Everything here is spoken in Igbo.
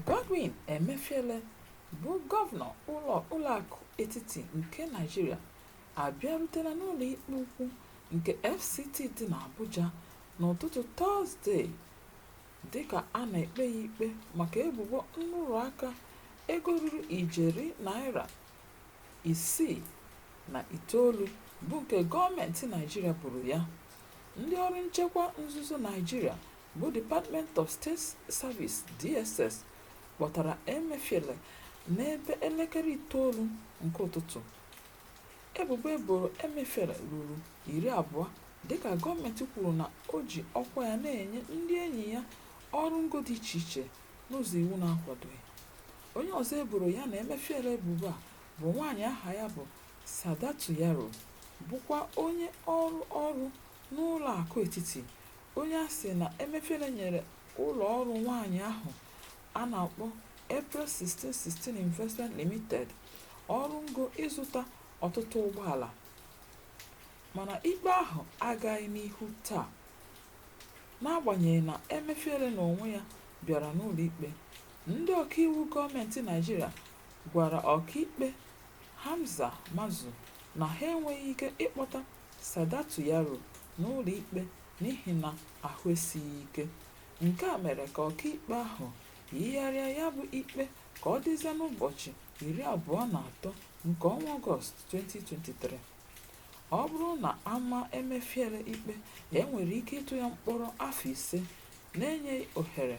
Godwin Emefiele bụ gọvanọ ụlọ ụlọakụ etiti nke Naịjirịa abịarutela n'ụlọ ikpe ukwu nke FCT dị n'Abuja n'ụtụtụ Tọzdee dịka a na-ekpe ya ikpe maka ebubo nrụrụ aka ego ruru ijeri naira isii na itoolu bụ nke gọọmentị Naịjirịa boro ya. Ndị ọrụ nchekwa nzuzo Naịjirịa bụ Department of State Services, DSS, kpọtara Emefiele n'ebe elekere itoolu nke ụtụtụ. Ebubo e boro Emefiele ruru iri abụọ dịka gọọmentị kwuru na o ji ọkwa ya na-enye ndị enyi ya ọrụ ngo dị iche iche n'ụzọ iwu na-akwadoghị. Onye ọzọ e boro ya na Emefiele ebubo a bụ nwaanyị aha ya bụ Sadatu Yaro bụkwa onye ọrụ ọrụ n'ụlọakụ etiti, onye a sị na Emefiele nyere ụlọọrụ nwaanyị ahụ a na-akpọ April 1616 Investment Limited ọrụ ngo ịzụta ọtụtụ ụgbọala. Mana ikpe ahụ agaghị n'ihu taa. N'agbanyeghị na Emefiele n'onwe ya bịara n'ụlọikpe Ndị ọkaiwu gọọmentị Naịjirịa gwara ọkaikpe Hamza Muazu na ha enweghị ike ịkpọta Sadatu Yaro n'ụlọikpe n'ihi na ahụ esighị ike. Nke a mere ka ọkaikpe ahụ yigharịa ya bụ ikpe ka ọ dịzie n'ụbọchị iri abụọ na atọ nke ọnwa Ọgọst, 2023. Ọ bụrụ na a maa Emefiele ikpe, e nwere ike ịtụ ya mkpọrọ afọ ise n'enyeghị ohere